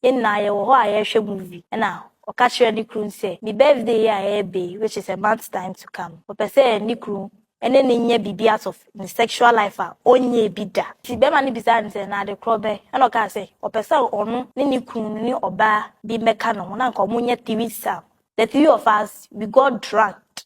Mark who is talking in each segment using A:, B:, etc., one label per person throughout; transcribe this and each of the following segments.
A: Yɛn nyinaa yɛwɔ hɔ a yɛrehwɛ movie na ɔka kyerɛ ne kunu sɛ ne birthday yi a ɛreba yi which is a month time to come ɔpɛ sɛ ne kunu ne no nyɛ biribi out of ne sexual life a ɔnyɛɛ bi da. Nti bɛrima no bisaa no sɛ na ade korɔ bɛn na ɔkaa sɛ ɔpɛ sɛ ɔno ne ne kunu no ne ɔbaa bi mmɛka ne ho na anka wɔnyɛ threesome. The three of us we got drugged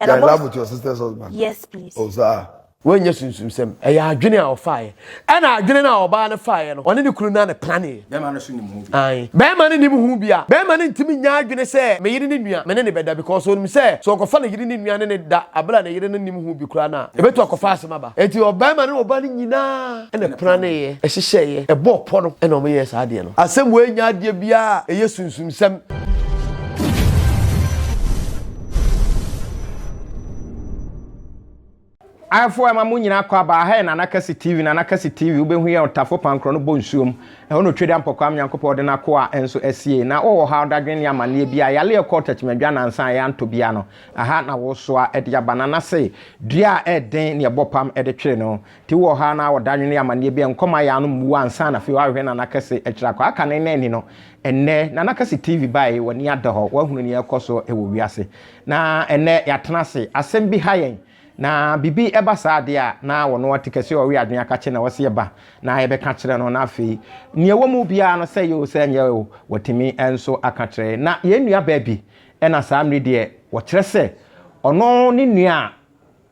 A: And
B: I love with your
A: sister's husband.
B: Yes, please. Oh, sir. wɔnyɛ sunsumsɛm
C: ɛyɛ adwene a ɔfaeɛ ɛna adwene no a ɔbaa no faeɛ no ɔne ne kunu no a ne planeɛ bɛrima
D: no so nim ho bi ae bɛrima no nim ho
C: bi a bɛrima no ntumi nya adwene sɛ me yere ne nua me ne ne bɛda because ɔnim sɛ sɛ ɔkɔfa ne yere ne nua ne ne da abere a ne yere no nim ho bi koraa no a ɛbɛtu akɔfa asɛm aba enti ɔbɛrima no ɔbaa no nyinaa ɛna planeeɛ ɛhyehyɛeɛ ɛbɔɔ pɔ no ɛna ɔmoyɛɛ saa adeɛ no asɛm wei nya adeɛ biara ɛyɛ sunsumsɛm
D: Ayefo a ɛma mo nyinaa kɔ aba, ha yɛ Nana Kɛse TV, Nana Kɛse TV, wobɛhu yɛn ɔtafo pankorɔ no bɔ nsuom, ɛhɔ na Otwedeɛ Ampɔkwaa me Nyankopɔn ɔde n'akoa nso asie, na wowɔ ɔhaw, dadwen ne amanneɛ biara, yale a ɛkɔɔ Takyimadwa nansa a yɛantɔ biara no, ɛha na wosoa de aba, Nana se, dua a ɛden ne ɛbɔ pam de twere no nti wowɔ ɔhaw anaa ɔdadwen ne amanneɛ biara, nkɔma yɛ ano mmuo ansa na afei woahwehwɛ Nana Kɛse akyiri akɔ, aka no nna ani no, Ɛnnɛ, Nana Kasi TV bae, w'ani ada hɔ, woahunu nea ɛrekɔ so wɔ wiase. Na ɛnnɛ, yɛatena ase, asɛm bi ha yɛn, na biribi ba saa adeɛ a, na ɔno ɔte kɛseɛ ɔwe adwene aka kyerɛ na ɔse ɛba, na yɛbɛka akyerɛ no, na afei, nea ɛwɔ mu biara no, sɛ ɛyɛ o, sɛ ɛnyɛ o, watumi nso aka akyerɛ yɛn. Na yɛn nuabaa bi na saa mmerɛ yi deɛ, wɔkyerɛ sɛ ɔno ne nua a,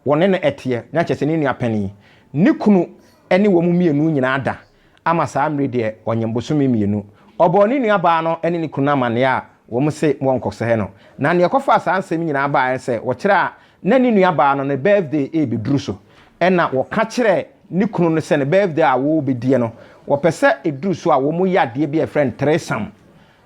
D: Wɔne no teɛ, na kyerɛ sɛ ne nua panin. Ne kunu ne wɔn mmienu nyinaa da ama saa mmere deɛ ɔnyem bosome mmienu. Ɔbɔɔ ne nua baa no ne ne kunu no amaneɛ a wɔn se wɔnkɔsɛe no. Na nea ɛkɔfaa saa nsɛm nyinaa baeɛ ne sɛ wɔkyerɛ a na ne nua baa no ne birthday rebɛduru so na wɔka kyerɛɛ ne kunu no sɛ ne birthday a wɔrebɛdie no wɔpɛ sɛ ɛduru so a wɔyɛ adeɛ bi a yɛfrɛ no threesome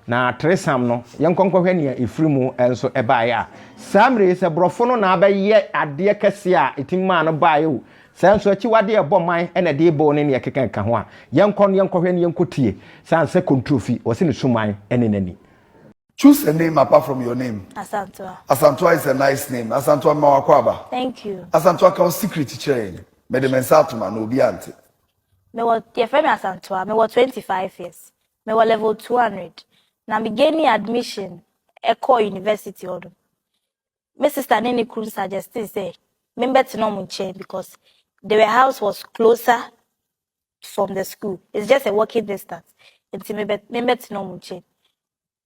D: Na ateresam no, yɛnkɔ nkɔhwɛ nea efiri mu nso baeɛ a, saa mmerɛ yi, sɛ borɔfo no na abɛyɛ adeɛ kɛseɛ a ɛtumi maa no baeɛ o, sɛ nso akyiwadeɛ a ɛbɔ man na ɛde rebɔ o ne nea ɛkeka ka ho a, yɛnkɔ no yɛnkɔhwɛ na yɛnkɔ tie. Sane sɛ kontrofi, wɔse ne suman ne n'ani. Choose a
B: name apart from your name. Asantewa.
A: Asantewa is a nice
B: name. Asantewa mema w'akwaaba. Thank you. Asantewa
A: ka wo secret
B: kyerɛ yɛn. Mede me nsa atom ano, obiara nte. Mewɔ,
A: yɛfrɛ me Asantewa. Mewɔ twenty five years. mewɔ level two hundred na me gaini admission kɔɔ university hɔ no me sister ne ne kunu suggesti sɛ me bɛ tena ɔmo nkyɛn because their house was closer from the school it's just a walking distance nti me bɛ me bɛ tena ɔmo nkyɛn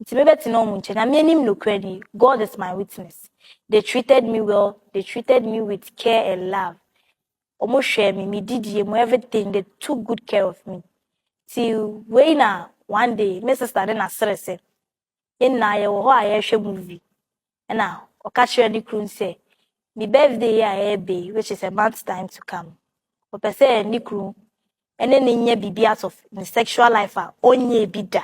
A: nti me bɛ tena ɔmo nkyɛn na me anim no kura ni God is my witness they treated me well they treated me with care and love. ɔmo hwɛɛ me me didie mu everything they took good care of me ti wei na one day me sister ne na sere sɛ yɛn nyinaa yɛwɔ hɔ a yɛrehwɛ movie ɛna ɔka kyerɛ ne kunu sɛ ne birthday yi a ɛreba yi which is a month time to come ɔpɛ sɛ ne kunu ɛne ne nyɛ biribi out of ne sexual life a ɔnyɛ bi da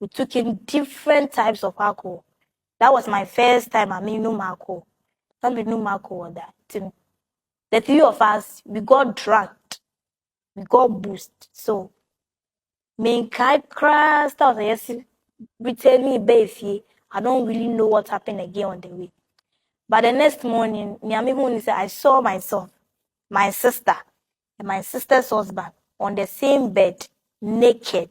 A: we took in different types of alcohol that was my first time a menom alcohol na menom alcohol da nti no the three of us we got drunk we got boost so menkae koraa stars a yɛsi returning bɛɛ fie i don't really know what happened again on the way but the next morning nea mehu ni sɛ i saw myself my sister and my sister's husband on the same bed naked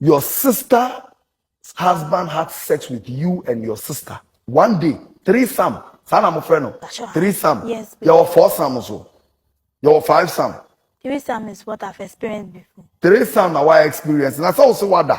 B: your sister's husband had sex with you and your sister one day three sam saa na mo fẹ́ no three sam yes, yẹ wọ
A: four sam nso
B: yẹ wọ five sam. three sam is
A: what I've experienced before. three sam na wa
B: experience na sọ wọ si wa da.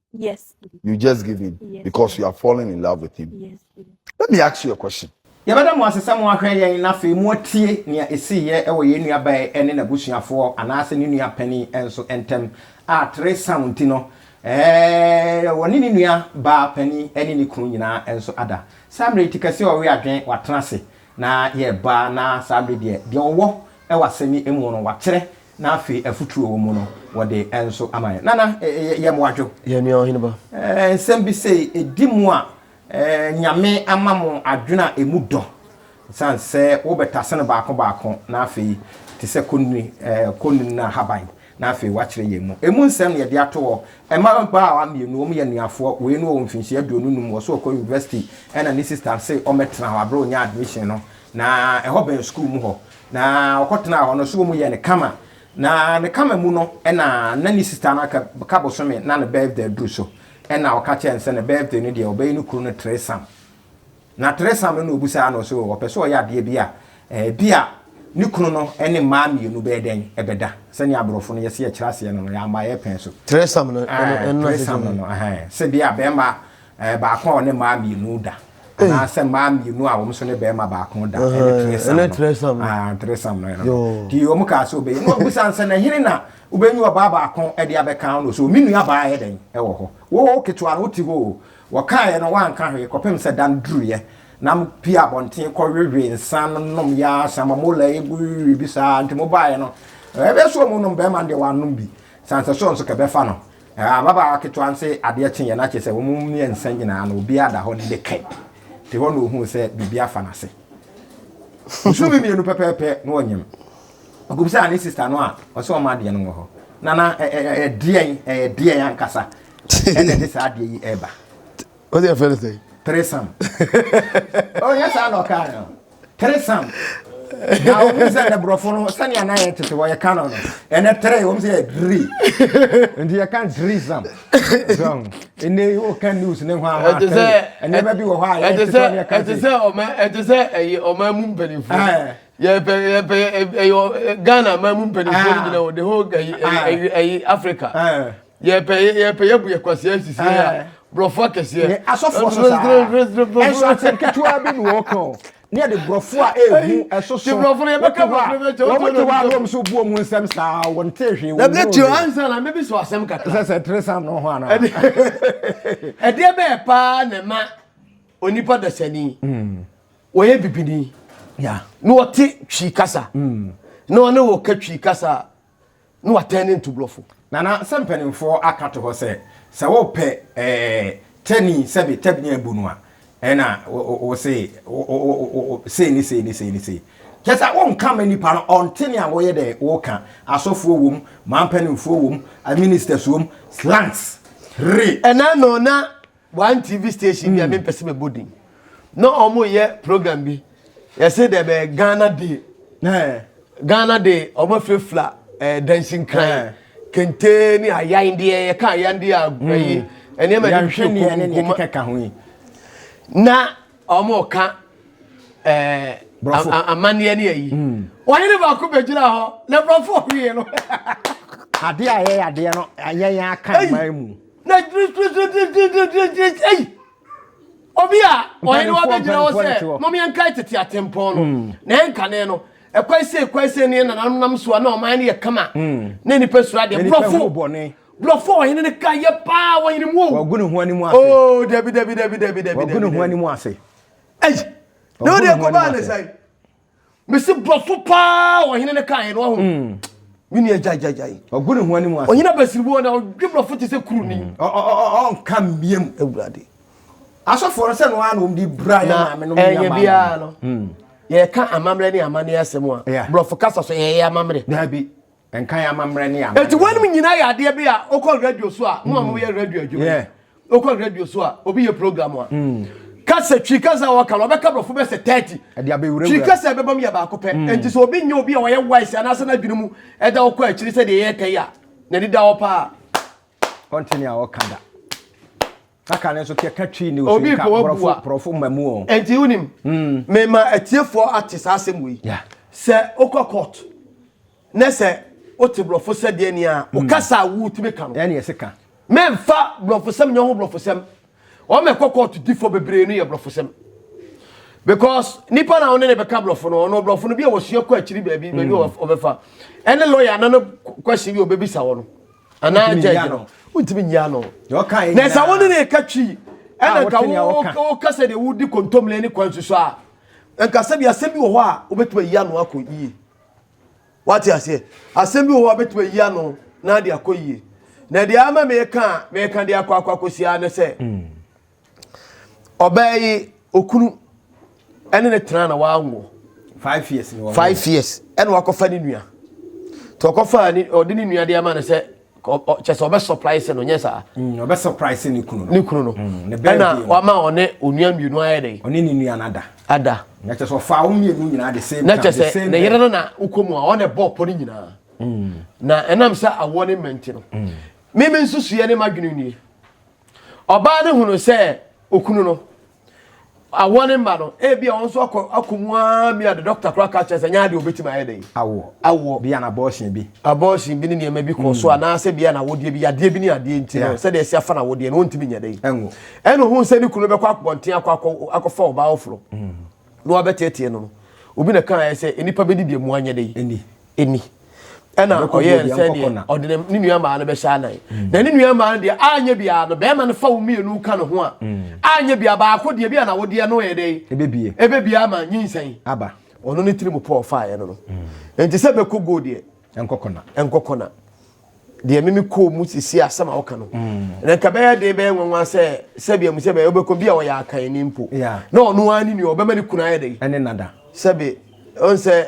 B: Yes, please. You
A: just give in Yes.
B: because you are falling
A: in
B: love with him. Yes, please.
A: Let me ask you a
B: question. yɛbɛda mo ase sɛ
D: moahwɛ yɛn na afei moatie nea ɛsiiɛ wɔ yɛn nuabaa ne n'abusuafoɔ anaasɛ ne nua panin nso ntam a tere saw nti no ɛɛ wɔne ne nua baa panin ne ne kunu nyinaa nso ada saa mmerɛ yi ti kɛseɛ a ɔwe adwen watena ase na yɛreba na saa mmerɛ deɛ deɛ ɔwɔ wɔ asɛm yi mu no wakyerɛ Na afei afutuo a wɔ mu no wɔde nso ama yɛn. Nana, yɛ mo adwo. Yɛ nua ɔhene ba.
C: Nsɛm bi sei
D: ɛdi mu a, Nyame ama mo adwene a ɛmu dɔ. Ɛsiane sɛ wo bɛtase no baako baako na afei te sɛ kɔnnini, kɔnnini no ahaban na afei woakyerɛ yɛn mu. Ɛmu nsɛm na yɛde ato hɔ. Mmabaawa mmienu, wɔn yɛ anuafoɔ. Wei no ɔwɔ mfinhyia aduonu num, ɔse ɔkɔ university, ɛna ne sister se ɔmmɛtena hɔ aberɛ a ɔnyaa admission no. Na ɛhɔ bɛn sukuu mu hɔ. Na ɔkɔtenaa hɔ no, so wɔyɛɛ no kama. Na ne kama mu no, ɛna na ne sista no aka ka bosome na ne birthday aduru so. Ɛna ɔka kyerɛɛ no sɛ ne birthday no deɛ ɔbɛyɛ ne kunu no tresam. Na tresam no na ɔbusaa no so ɔpɛ sɛ ɔyɛ adeɛ bi a, ɛbi a ne kunu no ne mmaa mmienu bɛyɛ dɛn bɛda. Sɛdeɛ aborɔfo no yɛse yɛkyerɛ aseɛ no no, yɛama yɛpɛn so. Tresam no,
C: ɛno na sɛ deɛ. Tresam no no,
D: sɛ bi a bɛrima Ɛɛ, baako a ɔne mmaa mmienu da. Anaasɛ mmaa mmienu a wɔn nso ne barima baako da. Ɛne tiresam no. Ɛne tiresam no. Ah, tiresam no. Yoo. Ti wɔn kaa sɛ ɔbɛyɛ. Na ɔbisa nsɛ na hene na wobɛnyi ɔbaa baako de abɛka ho no so. Me nua baa yɛ dɛn wɔ hɔ. Wo ketewa no wote hɔ o. Wɔkaeɛ no wanka hwee kɔpem sɛ da no duruiɛ. Na mo pie abɔnten kɔhwehwe nsa no nom yɛ ara sa ma mo la egu bi saa. Nti mo baeɛ no ɛbɛyɛ sɛ wɔn nom barima no deɛ wanom bi. Sɛ ansɛ sɛ ɔno nso kɛbɛfa no. Ababaawa ketewa no se adeɛ kyeeɛ na kyerɛ sɛ wɔn mmiɛnsa nyinaa no obiara da hɔ ne ne kɛp te hɔ na ɔhuu sɛ biribi afa n'ase. Ɔsuu me mmienu pɛpɛɛpɛ na ɔnyem. Ɔbisaa ne sista no a ɔse ɔma adeɛ no wɔ hɔ. Nana, ɛyɛ deɛn, ɛyɛ deɛn ankasa ɛna ɛde saa adeɛ yi ɛreba? o de fɛrɛ
C: sɛ tresam
D: o yɛ saa na ɔka no tresam na o mu sɛ ne borɔfo no sɛnea na yɛ tete wɔ yɛ ka no no ɛnɛ tre wɔn sɛ yɛ dri nti yɛ ka drisam zɔn ɛnɛ o ka news ne ho ama tre ɛnɛɛma bi wɔ hɔ a yɛ tete wɔ yɛ ka ɛte sɛ
C: ɔma ɛte sɛ ɛyɛ ɔma mu mpanimfoɔ eh. yɛpɛ yɛpɛ ɛyɛ eh, eh, Ghana ma mu mpanimfoɔ no nyina wɔde hɔ ɛyi ɛyi Africa yɛpɛ yɛpɛ yɛbu yɛ kwasia sisi yɛ eh. borɔfo akɛseɛ yɛ asɔfoɔ so saa
D: ɛnso asɛm ketewa bi na wɔka o ne yɛde borɔfo a ɛhu ɛso so wɔte hɔ a
C: wɔte hɔ a
D: wɔm so buo mu nsɛm saa wɔn te hwee wɔn mu tio ansa na mɛbi
C: so asɛm kakra sɛ sɛ tere sam no ho ana ɛdeɛ bɛyɛ paa na ɛma onipa dasani hmm. wɔyɛ bibini na
D: wɔte
C: twi kasa hmm. na wɔne wɔ ka twi kasa a na watɛn ne ntubrɔfo. Nana, sɛ mpanimfoɔ
D: aka to hɔ sɛ, sɛ wopɛ ɛɛ tani sɛbe tɛbini abu no a, ɛna wo se sei ne sei ne sei ne sei. Kyɛ sɛ wonka ma nipa no ɔnte ne a woyɛ dɛ woka. Asɔfoɔ wom, man mpanimfoɔ wom, ministers wom, slangs, re. Ɛna no na
C: One TV station bi a mempɛ sɛ mɛbɔ din. Na wɔyɛ program bi. Yɛse dɛ bɛyɛ Ghana Day. Ghana Day, wɔafirafira eh, dansinkran, kente ne ayandeɛ, yɛka ayandeɛ a hmm. ɛyi nneɛma
D: de hwɛ nkoma.
C: Na wɔka eh, amanneɛ ne ayi. Hmm. Wɔne ne baako bɛgyina hɔ, na borɔfo hwee no. Adeɛ
D: a yɛyɛ adeɛ no, yɛn aka mmaa mu. Na
C: dwiriwiriwiriwiriwiriwiriwiri ei! Obi a ɔhene wa bɛgyina hɔ sɛ, mom yɛnkae tete atempɔn no, na yɛnkane no. Ɛkwan sei kwan sei ne yɛn nananom nam so a na ɔman no yɛ kama, na nnipa suro adeɛ. Borɔfo, borɔfo a ɔhene no ka yɛ paa, wɔhene mu o. Wagu ne ho anim
D: ase. Oo,
C: dabi,
D: dabi, dabi, dabi, dabi, dabi. Wagu ne ho anim ase. Ei!
C: Na ɔde ɛkɔbaa ne sɛn? mesi borɔfo paa ɔhene no kaeɛ no ɔho hmm. me nua gyagyagyae ɔgu ne ho anim ase
D: ɔhene abasiriboɔ na ɔdwe
C: borɔfo te sɛ kuru ni hmm. ɔnka mmiam
D: awurade
C: asɔfoɔ
D: no sɛ no a na ɔmde bra yɛ maame no ɛnyɛ biara no hmm.
C: yɛka amammerɛ ne amanne asɛm a borɔfo kasa so ɛyɛ amammerɛ daabi
D: Nkan amammerɛ ne amammerɛ. Eti wɔn nyinaa yɛ
C: adeɛ
D: bi
C: a wokɔ radio so a mo a mo yɛ radio adwuma yi wokɔ radio so a obi yɛ program a hmm. kasa twi kasa a wɔka no ɔbɛka borɔfo bɛ sɛ thirty twi kasa
D: a ɛbɛbam yɛ baako
C: pɛ hmm. nti sɛ obi nyɛ obi a ɔyɛ wise anaasɛ n'adwene mu ɛda ɔkɔ akyiri sɛ deɛ yɛtɛ yi a n'ani da hɔ paa ɔnte ne
D: a ɔka da Na ka no nso kɛ ka Twi ne Osun Obi ka pɛ wɔabu borɔfo a. borɔfo
C: mmamu o.
D: Ɛnti wonim,
C: Mm. mema atiefoɔ ate saa asɛm wei. Yeah. Sɛ
D: wokɔ
C: court na sɛ wote borɔfo sɛdeɛni a, wo kasa a wotumi ka no, Ɛne ɛse ka.
D: mɛmfa
C: borɔfosɛm nyɛ ho borɔfosɛm. Wɔn a ɛkɔ court difoɔ bebree no yɛ borɔfosɛm. Because nipa no a wo ne no bɛka borɔfo no, ɔno borɔfo no bi a wɔsua kɔ akyiri baabi, baabi a ɔbɛfa. Ɛne lawyer no no question bi a ɔbɛbisa wɔ no. anaa gyɛgye no wontumi nyi ano na sɛ wo
D: ne ne ka twi
C: ɛna nka woka sɛ deɛ wodi kontomire ne kwan susu a nka sɛbi asɛm bi wɔ hɔ a wobɛtumi ayi ano akɔ yie wate aseɛ asɛm bi wɔ hɔ a wobɛtumi ayi ano na de akɔ yie na deɛ ama meka meka de akɔ akɔ akɔsi ara ne sɛ mm. ɔbaa yi okunu ɛne ne tena na wanwo five
D: years ni wɔn five years ɛna
C: wakɔfa ne nua tɔ ɔkɔfa ne ɔde ne nua de ama no sɛ kyɛ sɛ ɔbɛ surprise no nyɛ saa mm, ɔbɛ surprise
D: ne kunu no ne kunu no mm, ɛna
C: wama ɔne onua mmienu ayɛ dɛ ɔne ne nua no ada
D: ada na kyɛ sɛ
C: ɔfa wɔn
D: mmienu nyinaa de same time na kyɛ sɛ ne yere no
C: na okɔ mu a ɔna ɛbɔ ɔpɔ ne nyinaa mm. na ɛnam sɛ awoɔ ne mmɛnti no mímí nso suyɛ ne ma dwene nie. Ɔbaa no hunuu sɛ okunu no awɔ ne mma no, ebia ɔno nso akɔ akɔ mu ara mia de dɔkta koraa ka kyerɛ sɛ nyɛ adeɛ obetumi ayɛ dɛn. Awoɔ. Awoɔ. Bia na abortion bi.
D: Abortion bi ne nneɛma
C: bi kɔ so mm. anaasɛ bia na awodeɛ bi yadeɛ bi ne adeɛ nti no sɛdeɛ ɛsi afa na awodeɛ no ɔntumi nyɛ dɛn. Ɛnwo. Ɛna ohun sɛ ne kunu bɛkɔ akɔnten akɔ akɔfa ɔbaa ɔforo. Mm. na wabɛteɛteɛ no no, obi na kaeɛ sɛ, Nnipa bɛdi deɛ mmoa nyɛ dɛn? Nni. Ɛnna ɔyɛɛ no sɛdeɛ ɔde ne nua mmaa no bɛhyɛ anan. Mm. Na ne nua mmaa no deɛ anyɛ biara no, bɛrima no fa wo mmienu ka ne ho a, mm. anyɛ biara baako deɛ bi a na wodeɛ no yɛ dɛn? Ebebie. Ebebie ama nyinsɛn. Aba. Ɔno ne
D: tirim pɔɔ
C: faeɛ no no. Mm. Nti sɛ bɛkɔ go deɛ, Ɛnkɔ kɔna. Ɛnkɔ kɔna. Deɛ mimi kɔɔ mu sisi asɛm a woka no. Mm. Na nka bɛyɛ den bɛyɛ nwanwa sɛ sɛbi amu sɛ bɛyɛ wobɛkɔ bi a ɔyɛ akan ni mpo. Na ɔno ara ne nua ɔbɛma ne kunu ayɛ dɛn. Ɛne nada. Sɛbi ɔn sɛ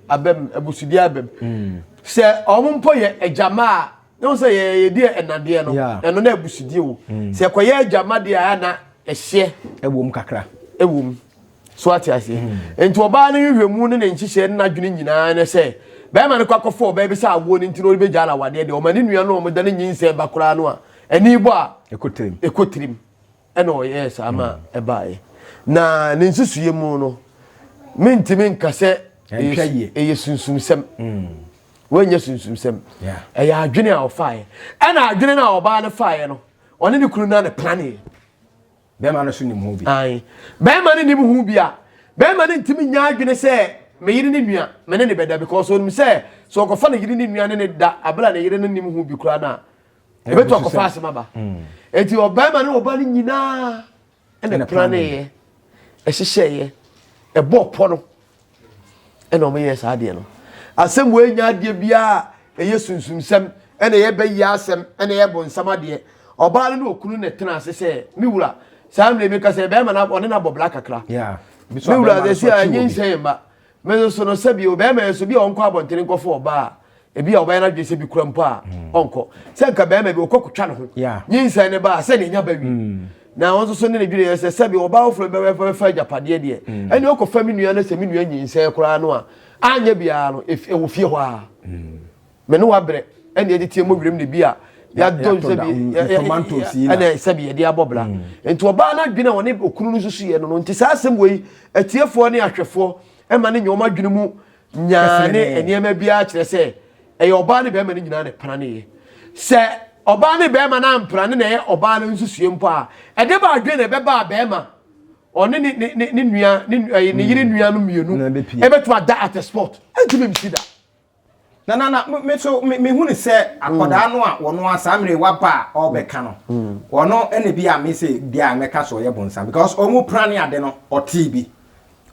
C: abɛm abusudi abɛm. Mm. Sɛ ɔmo mpo yɛ agyama a na ɔn sɛ yɛ yɛdi ɛnadeɛ no ɛno na abusudie o. Mm. Sɛ ɛkɔyɛ agyama deɛ a na ɛhyɛ. Ɛwom kakra.
D: Ɛwom.
C: so ate aseɛ hmm. nti ɔbaa no nhwehwɛmu ne ne nhyehyɛ ne n'adwene nyinaa ne sɛ bɛrima no kɔ akɔfɔ ɔbaa bi sɛ awoɔ no nti na ɔrebɛgya ala awadeɛ deɛ ɔma ne nua no ɔmda ne nyinsɛn ba koraa no a ɛne bɔ a ɛkɔ tirim ɛna ɔyɛɛ saa ma hmm. ɛbaeɛ na ne nsusuiɛ mu no mentimi nka sɛ ɛyɛ sunsumsɛm hmm. wɔnyɛ sunsumsɛm ɛyɛ adwene a ɔfaeɛ ɛna adwene no a ɔbaa no faeɛ no ɔne ne kunu no a ne planeɛ Bɛrima
D: no so nim ho bi. Ae. Bɛrima no
C: nim ho bi a, bɛrima no ntumi nya adwene sɛ me yere ne nua, me ne no bɛda because onim sɛ sɛ ɔkɔfa ne yere ne nua ne no da abere a ne yere no nim ho bi koraa no a, ɛbɛtu akɔfa asem aba. Enti ɔbarima ne ɔba no nyinaa ɛna planeeɛ, ɛhyehyɛeɛ, ɛbɔɔ pɔ no. ɛna wɔn yɛ saa adeɛ no asɛm wei nya adeɛ biara ɛyɛ sunsumsɛm ɛna ɛyɛ bɛyi asɛm ɛna ɛyɛ bonsam adeɛ ɔbaa no ne okunu na ɛtena ase sɛ me wura saa mmerɛ mi kasɛ bɛrima na ɔne no abɔ bla kakra me wura sɛ si a ɛnye nsɛn mma me nso no sɛbi o bɛrima yɛ so bi a ɔnkɔ abɔntene nkɔfo ɔbaa ebi a ɔbɛyɛ n'adwene sɛ bi kura mpo a mm. ɔnkɔ sɛ nka bɛrima bi ɔkɔ kotwa ne ho nyinsɛn ne ba sɛ ne nya ba wi mm. na wɔn nso so ne ne dwene yɛ sɛ sɛbi ɔbaa foforɔ bɛbɛ bɛfa agyapadeɛ deɛ mm. ɛne ɔkɔ fa mi nua no sɛ mi nua nyinsɛn koraa no a anyɛ biara no ɛwɔ fie hɔ a mɛ ne wabrɛ ɛne ɛde tie mo wiram ne bi a yɛadɔ nsɛbi ɛna
D: sɛbi yɛde abɔ bra
C: nti ɔbaa no adwene a ɔne okunu no nso so yɛ no no nti saa asɛm wei atiefoɔ ne ahwɛfoɔ ɛma ne nyɛ wɔn adwene mu nyaa ne nneɛma biara kyerɛ sɛ ɛyɛ ɔbaa ne bɛrima no nyinaa na ɛpra ne yɛ sɛ ɔbaa ne bɛrima no ampra ne na ɛyɛ ɔbaa no nsusue mpo a ɛde ba adwene na ɛbɛba a bɛrima ɔne ne ne ne ne nua ne ɛyɛ ne yere nua no mmienu Na ɛbɛpie. ɛbɛtumi ada at a spot ɛntumi nsi da na na
D: na me so me me hu ne sɛ akɔdaa no a wɔn a saa mmerɛ waba a ɔbɛka no wɔn ɛna bi a me sɛ bi a mɛka so ɔyɛ bonsam because wɔn pra ne ade no ɔtee bi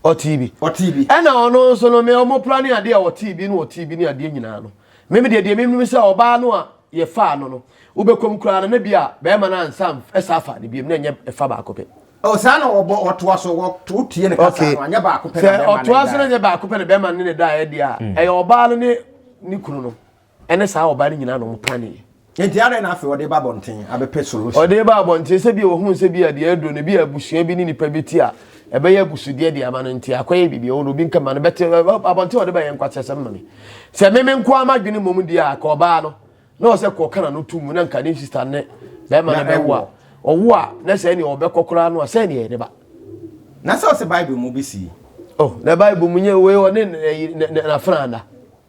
D: ɔtee
C: bi ɔtee bi ɛna ɔno nso no me ɔmo pra ne adeɛ a ɔtee bi no ɔtee bi ne adeɛ nyinaa no meme deɛ deɛ meme sɛ ɔbaa no a yɛfaa no no wobɛkɔm koraa no na bi a bɛrima no ansa ɛsa afa ne biam na ɛnyɛ ɛfa baako pɛ Oh, saa na wɔbɔ
D: ɔtoa so wɔto tie ne kasa no anyɛ baako pɛ na bɛma no ɔtoa so no nyɛ baako pɛ na
C: bɛma no ne da ɛdi a ɛyɛ ɔbaa no ne ne kunu no ɛne saa ɔbaa no nyinaa na wɔn planee. Nti adɛn na afei ɔde
D: ba abɔnten abɛpɛ solution? Ɔde ba abɔnten sɛ bi
C: a ohun sɛ bi a deɛ aduro no bi a abusua bi ne nipa bi ti a ɛbɛyɛ abusudeɛ de ama no nti akɔyɛ biribi ɔwɔ no obi nka ma no bɛte abɔnten ɔde ba yɛ nkwaseasɛm ma me sɛ meme nko ara m'adwene mmom deɛ a ka ɔbaa no na ɔsɛ kɔ ɔka na no to mu na nka ne sista ne bɛrima no bɛwo a ɔwo a na sɛ ɛne ɔbɛkɔ koraa no a sɛ ɛne ɛde ba na sɛ ɔsɛ
D: bible mu bi si oh na bible
C: mu nyɛ wei ɔne n'afena ana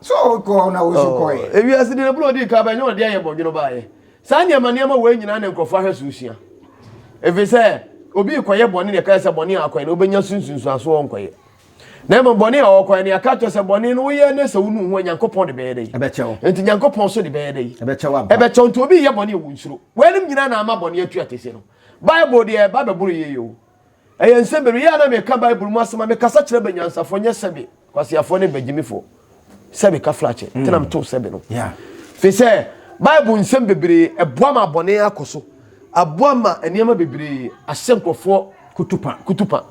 C: So ɔkɔ
D: na wo so kɔɛ. Oh, ewiase di na bro di ka
C: ba nyɛ ɔde ayɛ bɔdwene ba yɛ. Saa nneɛma nneɛma wɔ nyinaa na nkurɔfo ahwɛ so sua. Efi sɛ obi kɔyɛ bɔne na ɛka sɛ bɔne a akɔyɛ na obenya sunsunsuaso ɔnkɔyɛ. Na mmom bɔne a ɔkɔyɛ na ɛka kyerɛ sɛ bɔne no woyɛ ne sɛ wonu ho a Nyankopɔn de bɛyɛ dɛ yi. Ɛbɛkyɛw. Nti Nyankopɔn
D: so de
C: bɛyɛ dɛ yi. Ɛbɛkyɛw ampa. Ɛbɛkyɛw nti
D: obi yɛ bɔne
C: a wɔnsuro. Wɔanim nyinaa na ama bɔne atua tese no. Bible deɛ ɛba bɛboro yie o. Ɛyɛ nsɛ bere yɛ a na meka Bible mu asɛm a mekasa kyerɛ banyansafo nyɛ sɛbe kwaseafo ne bagyimifo sɛ meka flakyɛ nti na metow sɛbe no. Fi sɛ Bible nsɛm bebree ɛboa ma bɔne akɔ so, aboa ma nneɛma bebree ahyɛ nkurɔfoɔ kutupa,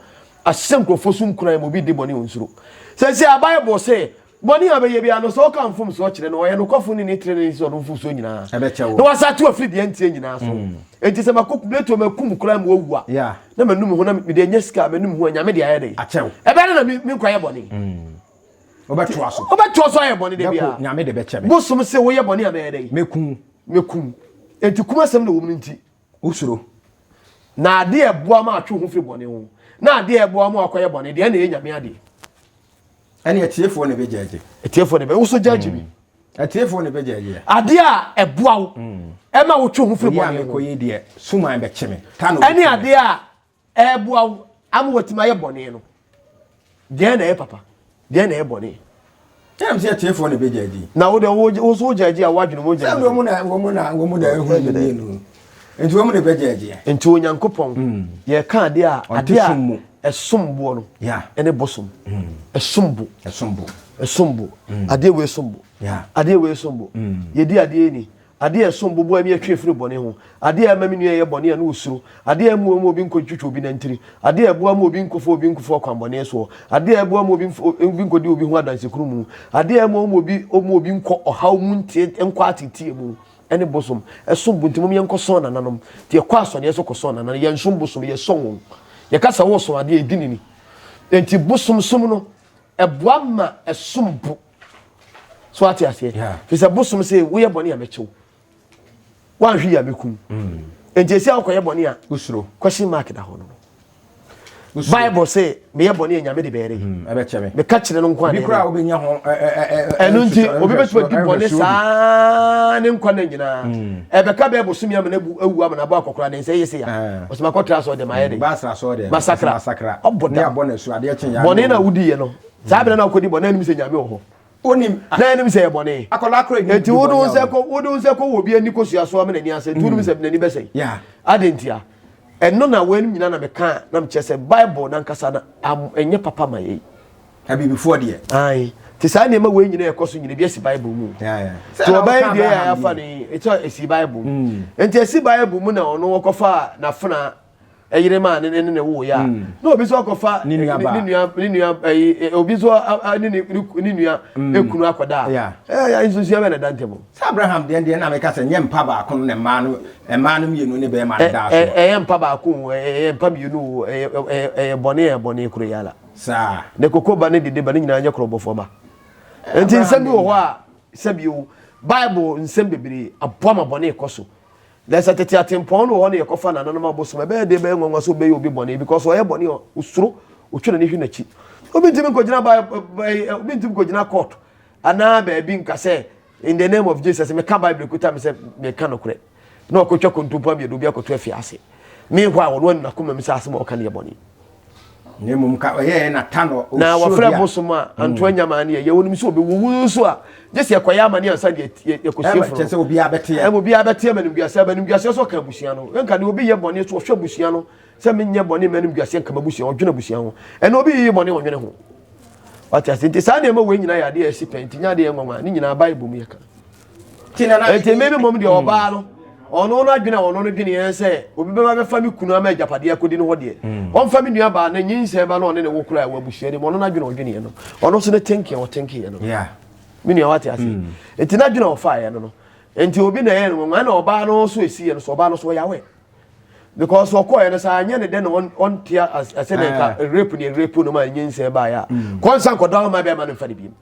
C: ahyɛ nkurɔfoɔ so nkuran ma obi di bɔne onsuro. Sɛsi a Bible se Bɔne a ɔbɛyɛ biara no, sɛ ɔka mfomsoɔ kyerɛ no, ɔyɛ nokwafo ne ne trenee nti sɛ ɔde wo mfomsoɔ nyinaa Ɛbɛkyɛ wo. na wasa ate wo afiri deɛ ɛnteɛ nyinaa so. Enti sɛ makɔ Plato makum koraa ma wawu a, Yeah. na manum ho, na
D: mede
C: anya sika a manum ho a, Nyame de ayɛ dɛn? Akyɛ wo. Ɛbɛyɛ dɛn na me
D: me nkɔyɛ
C: bɔne? Wobɛtoa so. Wobɛtoa so ayɛ bɔne da Bɛko, biara. Nyame de bɛkyɛ me. Bosom
D: se woyɛ bɔne a
C: mɛyɛ dɛn? Mɛku wo. Mɛku wo. Enti kum asɛm na ɛwɔ mu no nti. Wosuro.
D: Na
C: ade a ɛboa ma atwe wo ho firi bɔne ho, na ade a ɛboa ma wakɔyɛ bɔne deɛ, ɛna ɛyɛ Nyame adeɛ.
D: Ɛne atiefoɔ na ɛbɛgyaagye. Atiefoɔ na ɛbɛ, wo so
C: gyaagye bi. Atiefoɔ na
D: ɛbɛgyaagye. Adeɛ a ɛboa
C: wo, ɛma wotwe ho firi bɔne ho. Ɛne
D: adeɛ a
C: Ɛreboa wo ama watumi ayɛ bɔne no. Deɛn na ɛyɛ papa? Deɛn na ɛyɛ bɔne? Ɛnam sɛ
D: atiefoɔ na ɛbɛgya agyi. Na wo deɛ wo nso
C: wogya agyi a woadwene mu wogya agyi. Sɛ wɔn na wɔn na
D: wɔn na ɛho yɛ mmienu. Nti wɔn na ɛbɛgya agyi. Nti Onyankopɔn hmm.
C: yɛka adeɛ a adeɛ a ɛsom boɔ no ɛne bosom.
D: Hmm.
C: Ɛsom bo. Ɛsom bo. Ɛsom bo. Hmm. Adeɛ wei som bo. Adeɛ wei som
D: bo.
C: Yɛdi adeɛ ni. Adeɛ a ɛsom bo boa me atwe afiri bɔne ho. Adeɛ a ɛma me nua yɛ bɔne a na ɔsuro. Adeɛ a ɛmmoa ma obi nkɔntwitwa obi nantiri. Adeɛ a ɛboa ma obi nkɔfa obi nkɔfa ɔkwammɔne soɔ. Adeɛ a ɛboa ma obi obi nkɔdi obi ho adanse kunu mu. Adeɛ a ɛmmoa ma obi ma obi nkɔ ɔhaw mu nteɛ nkɔ ateeteɛ mu. Ɛne bosom. Ɛsom bo nti mom yɛnkɔ sɔn nananom. Nti yɛkɔ asɔneɛ so kɔ sɔn nananom. Yɛnsom bosom, yɛsɔn wɔn. Yɛka sɛ woresom adeɛ a, ɛdi ne ni. Ɛnti bosom som no, ɛboa ma ɛsom bo. so ate aseɛ fi sɛ bosom sɛ woyɛ bɔne a mɛkyew woanhwe yi a mɛkum mm. nti ɛsi a wokɔyɛ bɔne a wosuro question mark
D: da hɔ no
C: bible sɛ meyɛ bɔne a nyame de bɛɛre mm, meka
D: kyerɛ no nkoa ɛno nti
C: obi bɛtumi di bɔne saa ne nkwa no nyinaa mm. ɛbɛka bɛɛ bosome amana awu amana abɔ akɔkora ne nsɛ yɛ se ya ɔsɛmakɔtra sɛ ɔde mayɛ de masakra ɔbɔdabɔne
D: na wodiiɛ no
C: saa bere na ɔkɔdi bɔ na anim sɛ nyame wɔ hɔ onim na anim
D: sɛ yɛ bɔne
C: akɔla kora anim nti wode
D: wo sɛ kɔ wode
C: wo sɛ kɔ wɔ bi ani kɔsua so ama n'ani asɛ nti wonim sɛ n'ani bɛsɛe ade ntia ɛno na wɔanim nyina na meka na mekyɛ sɛ bible no ankasa no ɛnyɛ papa ma yɛi abibifoɔ deɛ
D: ae nti saa
C: nneɛma wei nyina ɛkɔ so nyina bi asi bible mu nti ɔbɛyɛ
D: deɛ yɛ
C: afa no ɛsɛ ɛsi bible mu nti ɛsi bible mu na ɔno wɔkɔfa nafena ɛyere maa ne ne ne wo ya na obi nso akɔfa ne nua ne nua ɛyi obi nso ne ne ne nua mm. ekunu akɔda ɛyɛ nsunsua bɛ na da ntɛm. sɛ abraham deɛ deɛ
D: na meka sɛ nyɛ mpa baako no na mmaa no mmaa no mmienu ne bɛrima no daa so. ɛyɛ mpa baako
C: ɛyɛ mpa mmienu ɛyɛ ɛyɛ bɔne ɛyɛ bɔne koro yɛ ala. saa ne koko
D: ba ne dede
C: ba ne nyinaa nyɛ korɔbɔfoɔ ba nti nsɛm bi wɔ hɔ a sɛbi o bible nsɛm bebree aboa ma bɔne kɔ so. Na sɛ tete atempɔn no wɔ hɔ na yɛkɔfa nananom abosom a, ɛbɛyɛ den, ɛbɛyɛ nwanwa sɛ obɛyɛ obi bɔne because ɔyɛ bɔne a osuro, otwe n'ani hwe n'akyi. Obi ntumi nkɔgyina ba, eh, obi ntumi nkɔgyina court anaa baabi nka sɛ in the name of Jesus meka Bible kuta me sɛ meka nokorɛ na ɔkɔtwa kontompo amiɛdɔ obi akɔto afiase. Meanwhile ɔno anu n'akoma mu sɛ asɛm a ɔka no yɛ bɔne. na mmom
D: nka ɔyɛɛ na ta no na wɔfrɛ bosom
C: a anto hmm. anyama ne yɛyɛ wonim sɛ ɔbɛwuwu nso a gye sɛ yɛkɔyɛ amane ansa de yɛkɔsie foro sɛ obiaa bɛteɛ ɛma obiaa
D: bɛteɛ ma
C: nimguaseɛ ba nimguaseɛ sɛ ɔka abusua no nka ne obi yɛ bɔne so ɔhwɛ abusua no sɛ menyɛ bɔne ma nimguaseɛ nka mabusua ɔdwene abusua ho ɛna obi yiyi bɔne ɔnwene ho wate ase nti saa nneɛma wei nyinaa yɛ adeɛ ɛsi pɛ nti nyɛ adeɛ nwanwa ne nyinaa bible mu yɛka
D: Enti mmere bi mmom deɛ ɔbaa
C: no, ɔno no adwene a ɔno no dwene yɛn sɛ obi bɛba bɛfa me kunu ama agyapadeɛ akɔdi no hɔ deɛ, ɔmfa me nua baa no nyinsɛn ba no ɔne ne wo koraa wɔ abusua no mu, ɔno no adwene a ɔdweneɛ no, ɔno nso ne thinking a ɔthinkingiɛ no no. Me nua
D: wate
C: aseɛ? Enti n'adwene a ɔfaeɛ no no, enti obi na ɛyɛ no nwanwa na ɔbaa no nso ɛsiiɛ no so, ɔbaa no nso ɔyɛ aware. Because ɔkɔeɛ no sɛ anyɛ ne dɛ na ɔnte asɛ dɛ nka rape ne rape no ma nyinsɛn baeɛ a, kɔ nsa nkɔdɔ ama bɛrima no mfa no biom.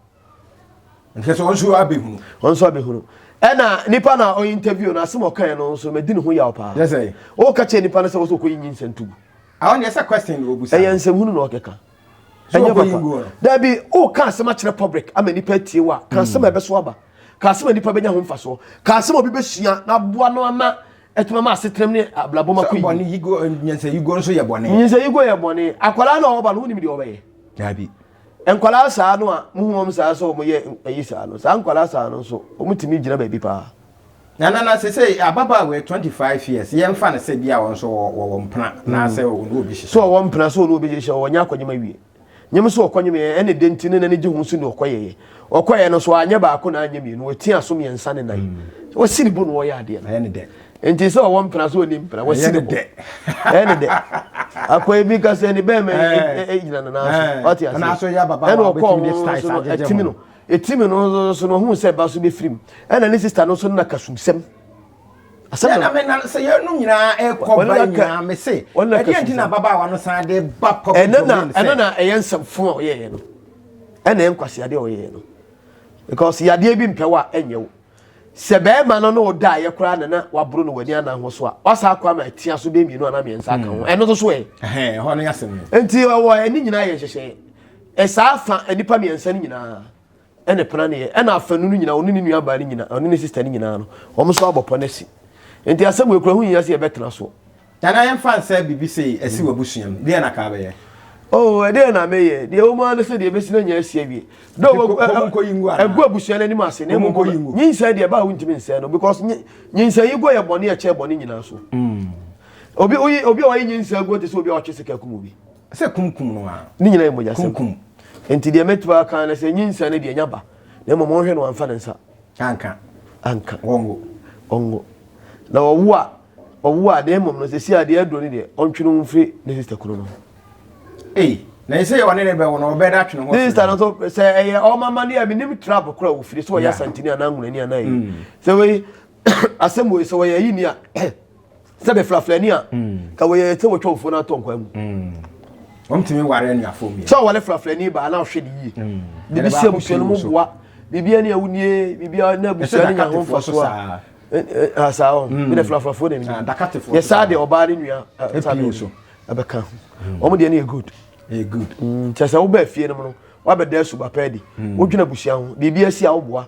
D: Nhwɛ sɛ ɔnso abɛhunu. Ɔnso abɛhunu.
C: Ɛna nipa na ɔyɛ interview no asɛm ɔkae no nso mɛdi ne ho yaw paa. Yɛ sɛ. Ɔka kyerɛ
D: nipa no sɛ
C: wɔsɛ ɔkɔyi nyi nsɛm tugu. Ɛhɔ deɛ sɛ
D: question na ɔbusa. Ɛyɛ nsɛmhunu na ɔkeka.
C: So ɔkɔyi ngu hɔ no. Dabi, woka asɛm akyerɛ public ama nipa atie wo a, ka asɛm a ɛbɛso aba. Ka asɛm a nipa bɛnya ho mfasoɔ. Ka asɛm a obi bɛsua na aboa no ama atumi ama asetenam ne abrabɔ mu akɔ yie. Sɛ bɔne yi guo, nyansayi
D: guo nso yɛ bɔne. Nyansayi guo yɛ bɔne.
C: Akwadaa na ɔba no, wonim deɛ ɔbɛyɛ? Dabi.
D: Nkwadaa
C: saa no a mohu wɔn saa sɛ wɔyɛ ayi saa no, saa nkwadaa saa no nso, wɔtumi gyina baabi paa. Na na na
D: sesei ababaawa yi twenty five years, yɛmfa no sɛ bi a wɔn nso wɔwɔ mpena anaasɛ wɔn ne obi hyehyɛ. So wɔwɔ mpena, so wɔn ne obi
C: hyehyɛ, wɔnyɛ akɔnyem awie. Nyem so wɔkɔnyem yɛ, ɛna dɛn nti na n'ani gye ho so ne ɔkɔyɛeɛ. ɔkɔeɛ no so anyɛ baako na anyɛ mmienu ɔti aso mmiɛnsa ne nan wɔsi ne bo na wɔyɛ adeɛ no nti
D: sɛ ɔwɔ mpena
C: so ɔni mpena wɔsi ne bo ɛyɛ ne dɛ akwa ebi ka sɛ ne bɛrima gyina ne nan so ɔte ase ɛna ɔkɔ
D: ɔmo so no
C: ɛtimi
D: no
C: ɛtimi no so no ɔhu sɛ ba so bɛfiri mu ɛna ne sista no so no na kasumsɛm asɛm
D: na me na sɛ yɛn no nyinaa ɛkɔ ba nyinaa me se ɛdeɛ nti na ababaawa no san de ba pɔpi ɛno na ɛno na
C: ɛyɛ nsɛm fo a ɔyɛɛ no ɛna ɛyɛ nkwasi adeɛ ɔyɛɛ no because yadeɛ bi mpɛ wa ɛnyɛ wo sɛ bɛrima no na ɔda ayɛ koraa na na waboro no w'ani anan ho so a wasa akɔ ama atia so bɛɛ mmienu anaa mmiɛnsa aka ho ɛno nso so ɛ ɛhɔ no yɛ asɛm
D: nti ɛwɔ ɛne
C: nyinaa yɛ nhyehyɛ ɛsaa fa nnipa mmiɛnsa no nyinaa ɛna ɛpena ne yɛ ɛna afanu no nyinaa ɔne ne nua baa no nyinaa ɔne ne sista no nyinaa no wɔn nso abɔ pɔ no asi nti asɛm wei kura ho nyinaa sɛ yɛbɛtena so. Nana yɛmfa nsɛ
D: biribi sei asi w'abusua mu deɛ na kaa bɛyɛ. Oh ɛdeɛ na
C: meyɛ deɛ wɔn ara ne sɛ deɛ ɛbɛsi na nya asi awie dɛ ɛgu abusua no anim ase na ɛmu bɔ nyinsɛn deɛ ɛbaa wontumi nsɛn no because nyinsɛn yi guo yɛ bɔne ɛkyɛn bɔne nyinaa so obi oyi obi a ɔyɛ nyinsɛn guo te sɛ obi a ɔtwe sika kum obi sɛ kumkum no
D: a ne nyinaa yɛ mogya sɛm
C: Enti deɛ
D: mɛtumi
C: aka ara ne sɛ, nyinsɛn no deɛ, ɛnya ba, na mmom ɔnhwɛ na wamfa ne nsa. Anka. Anka. Ɔnwo. Ɔnwo. Na ɔwo a, ɔwo a, na mmom no, seesei adeɛ aduro no deɛ, ɔntwe ne ho mfiri ne sista kunu no ho. Ei, na
D: ɛsɛ yɛ ɔne ne bɛwo no, ɔbɛda atwe ne ho afiri. Ne sista no nso, sɛ ɛyɛ
C: wɔn amanneɛ a, menim trap korɔ a wɔfiri, sɛ wɔyɛ asantini anaa nwunani anaa ayi. Sɛ wei, asɛm wei, sɛ wɔyɛ ayini a, sɛ bɛfrafrani a ka wɔyɛ ɛsɛ wɔtwɔmfoɔ no atɔ nkwan mu ɔmtumi
D: ware anuafoɔ mmiɛ sɛ ɔwale frafrani baa na
C: ɔhwɛ ne yie biribi si abusua no mu boa biribi ani a wonie biribi a na abusua no nya ho mfa so a asaa hɔ bi dɛ frafrafoɔ na ɛmi yɛ saa deɛ ɔbaa ne nua ɛbɛka ho wɔn deɛ no yɛ good kyɛ sɛ wobɛ fie no mu no wabɛda asuba pɛɛ di wodwena abusua ho biribi asi a woboa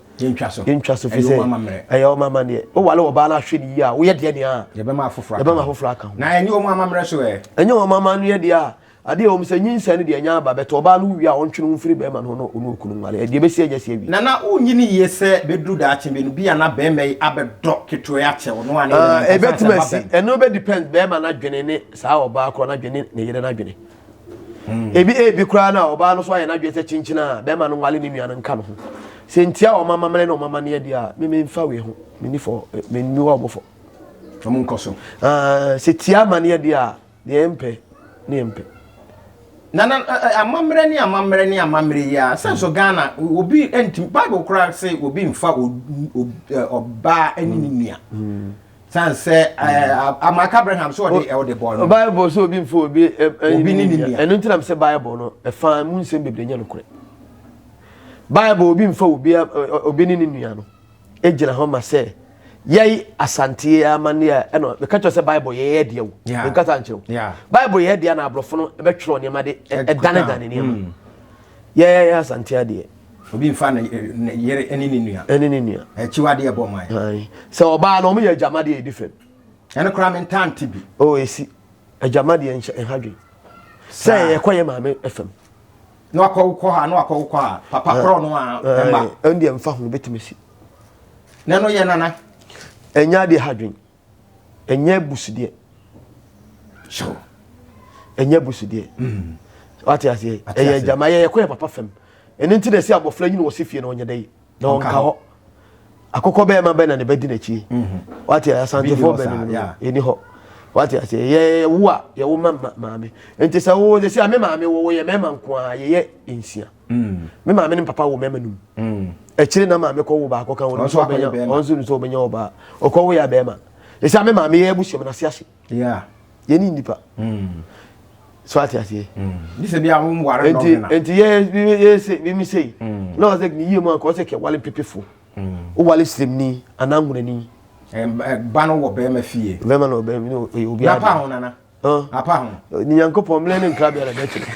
C: yɛntwa so yɛntwa so fi sɛ ɛyɛ wɔn amaneɛ wowale wɔbaa no ahwɛ ne yie a woyɛ deɛ nea yɛbɛma
D: afoforɔ aka ho na ɛnyɛ wɔn
C: amammerɛ so
D: ɛ ɛnyɛ wɔn amaneɛ
C: deɛ a adeɛ wɔn sɛ nyinsɛn no deɛ ɛnya aba bɛtɔ ɔbaa no wie a ɔntwe ne ho mfiri bɛrima no ho na ɔne okunu nwale ɛdeɛ bɛsi anya si awie na na wonyi ne yie sɛ
D: bɛduru daakye bi no bi a na bɛrima yi abɛdɔ ketewa akyɛ wo no a ne ɛbɛtumi asi
C: ɛno bɛdepend bɛrima no adwene ne saa ɔbaa korɔ no adwene ne yere no adwene ebi ebi koraa na ɔbaa no so ayɛ n'adwene sɛ kyenkyen a bɛrima no nwale ne nua no nka no ho sɛ ntia wɔn amammerɛ ne wɔn amanneɛ deɛ a meme nfa wei ho meni fɔ eh, meni wɔ wɔn fɔ wɔn nkɔ so
D: ah, sɛ tia
C: amanneɛ deɛ a deɛ yɛmpɛ ne yɛmpɛ na na
D: amammerɛ ne amammerɛ ne amammerɛ yi a sɛ nso ghana obi nti bible koraa sɛ obi nfa ɔbaa ne ne nua mm. san sɛ ɛɛ amaka abraham so ɔde ɔde bɔ no. bible sɛ obi nfa obi
C: obi ne nua ɛno
D: nti nam sɛ bible
C: no ɛfa mu nsɛm bebree nyɛ nokorɛ bible obi nfa obi obi ne ne nua no egyina hɔ ma sɛ yɛyi asanteɛ amaneɛ ɛna meka kyerɛ sɛ bible yɛyɛ deɛ wo meka sa nkyerɛ wo bible yɛyɛ deɛ na aborɔfo no ɛbɛtwerɛ nneɛma de ɛdanedane nneɛma mm. yɛyɛ asante adeɛ obi nfa
D: ne yere ne ne nua ne ne nua akyiwadeɛ bɔ man sɛ ɔbaa no ɔmo
C: yɛ agyamadeɛ ɛdi fam ɛno koraa me
D: ntante bi o ɛsi
C: agyamadeɛ nhyɛ ɛha dwen sɛ yɛkɔ yɛ maame fam na wakɔ
D: wokɔ ha na wakɔ wokɔ ha papa korɔ no a ɛma ɛndeɛ mfa ho bɛtumi
C: si na
D: no yɛ nana ɛnyɛ adeɛ
C: ha dwen ɛnyɛ abusudeɛ so ɛnyɛ abusudeɛ mm. wate aseɛ ɛyɛ agyama yɛ yɛkɔ yɛ papa fam ɛno nti na ɛsɛ abɔfra nyini wɔ se fie na ɔnyɛ dɛ na ɔnka hɔ akokɔ bɛyɛ ma bɛn na ne bɛdi n'akyi mm-hmm. wate asantefoɔ bɛn no ɛni hɔ wate aseɛ yɛ wo a yɛwo ma maame nti sɛ wo de sɛ ame maame wo yɛ mɛma nko a yɛyɛ nsia me maame ne papa wɔ mɛma num akyire na maame kɔ wo baako kan wɔn nso ɔbɛnya wɔn nso nso ɔbɛnya ɔbaa ɔkɔ wo yɛ abɛɛma ɛsɛ ame maame yɛ abusua mu na se ase yɛ
D: ne nipa
C: so ate aseɛ
D: nti yɛsɛ
C: mimi sei na ɔsɛ ne yie mu anka ɔsɛ kɛ wale pepefo wo wale sremni anaa ngunani ba
D: no wɔ bɛɛma fie bɛɛma na ɔbɛɛma na ɔyɛ
C: obi ade
D: apa ho ne nyankopɔn mmerɛ ne
C: nkrabea na bɛkyerɛ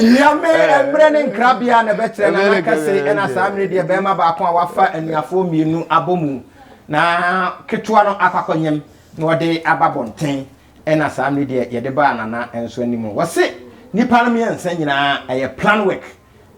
D: nyame mmerɛ ne nkrabea na bɛkyerɛ na nakɛse ɛna saa mmerɛ deɛ bɛrima baako a wafa anuafoɔ mmienu abɔ mu na ketewa no akwakɔnyem na ɔde aba bɔnten ɛna saa mmerɛ deɛ yɛde baa nana nso anim wɔse nipa no mmiɛnsa nyinaa ɛyɛ plan work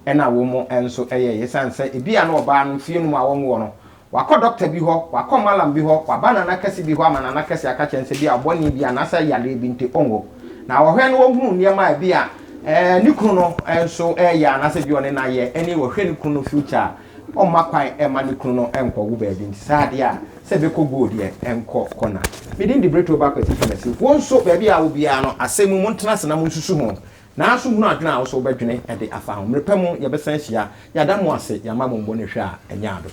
D: Ɛna wom nso ɛyɛ esiane sɛ ebia na ɔbaa no fie no mu a wɔnwoo no, wakɔ dɔkta bi hɔ, wakɔ malam bi hɔ, waba nana kɛse bi hɔ ama nana kɛse aka kyerɛ no sɛ bi a ɔbɔne bi anaasɛ yareɛ bi nti ɔnwo. Na ɔhwɛ na ɔhunu nneɛma a ebia ɛɛ ne kunu no nso ɛɛyɛ anaasɛ bi ɔne no ayɛ ɛne ɔhwɛ ne kunu no future a ɔmma kwan ɛmma ne kunu no nkɔwo baabi nti saa deɛ a sɛ bɛkɔ go deɛ nkɔ kɔ na. Me din de Bretto Bakwati Twumasi. Wo nso baabi a wɔ biara no asɛm mu montena ase na monsusu ho. Naaso hunu adwen a ɔwɔ sɛ wobɛdwene de afa ho. Mber pa mu yɛbɛsan ehyia. Yɛada mo ase, yɛama mo mbɔnehwɛ a enye adom.